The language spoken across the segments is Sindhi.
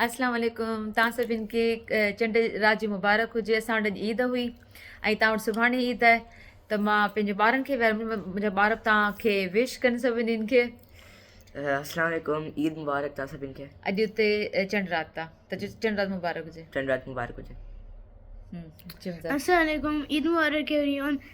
اسلام عليڪم توهان سڀين کي چنڊ رات جي مبارڪ هجي اسان وٽ اڄ عيد هئي ۽ توهان وٽ سڀاڻي عيد آهي ته مان پنهنجي ٻارن کي منهنجا ٻار توهان کي وش ڪن سڀني کي اسلام عليڪم عيد مبارڪ توهان سڀين کي اڄ اتي چنڊ رات آ ته چنڊ رات مبارڪ هجي چنڊ رات مبارڪ هجي اسلام عليڪم عيد مبارڪ ايويري ون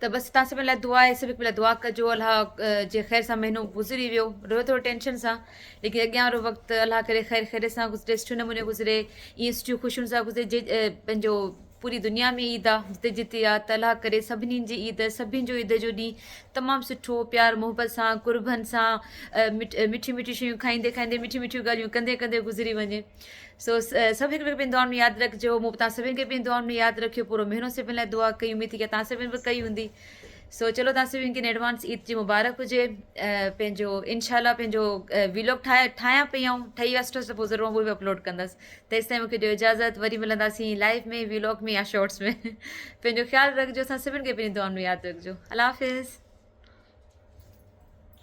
ته بس تان سڀن لاء دعا آهي سڀ هڪ ٻئي لاء دعا ڪجو الله جي خير سان مهينو گذري ويو رهيو ٿورو ٽينشن سان ليڪن اڳيان وارو وقت الله ڪري خير خيري سان گذري سٺي نموني گذري ائين سٺيون خوشيون سان گذري جي پنهنجو پوري دنيا ۾ عيد آ جتي جتي آ ته الله ڪري سڀني جي عيد سڀني جو عيد جو ڏينهن تمام سٺو پيار محبت سان قربن سان مٺي مٺي شيون کائيندي کائيندي مٺي مٺيون ڳالهيون ڪندي ڪندي گذري وڃي سو سڀ هڪ ٻئي کي پنهنجي دعائن ۾ ياد رکجو مون به توهان سڀن کي پنهنجي دعائن ۾ ياد رکيو پورو مهينو سڀن لاء دعا ڪئي اميد ٿي ڪي توهان سڀن به ڪئي هوندي سو چلو توهان سڀن کي ايڊوانس عيد جي مبارڪ هجي پنهنجو انشاء الله پنهنجو ويلوگ ٺاهي ٺاهيان پئي آئون ٺهي وسٺس ته پوء ضرور به اپلوڊ ڪندس تيستائين مونکي ڏيو اجازت وري ملنداسين لائف ۾ ويلوگ ۾ يا شارٽس ۾ پنهنجو خيال رکجو اسان سڀن کي پنهنجي دعائن ۾ ياد رکجو الله حافظ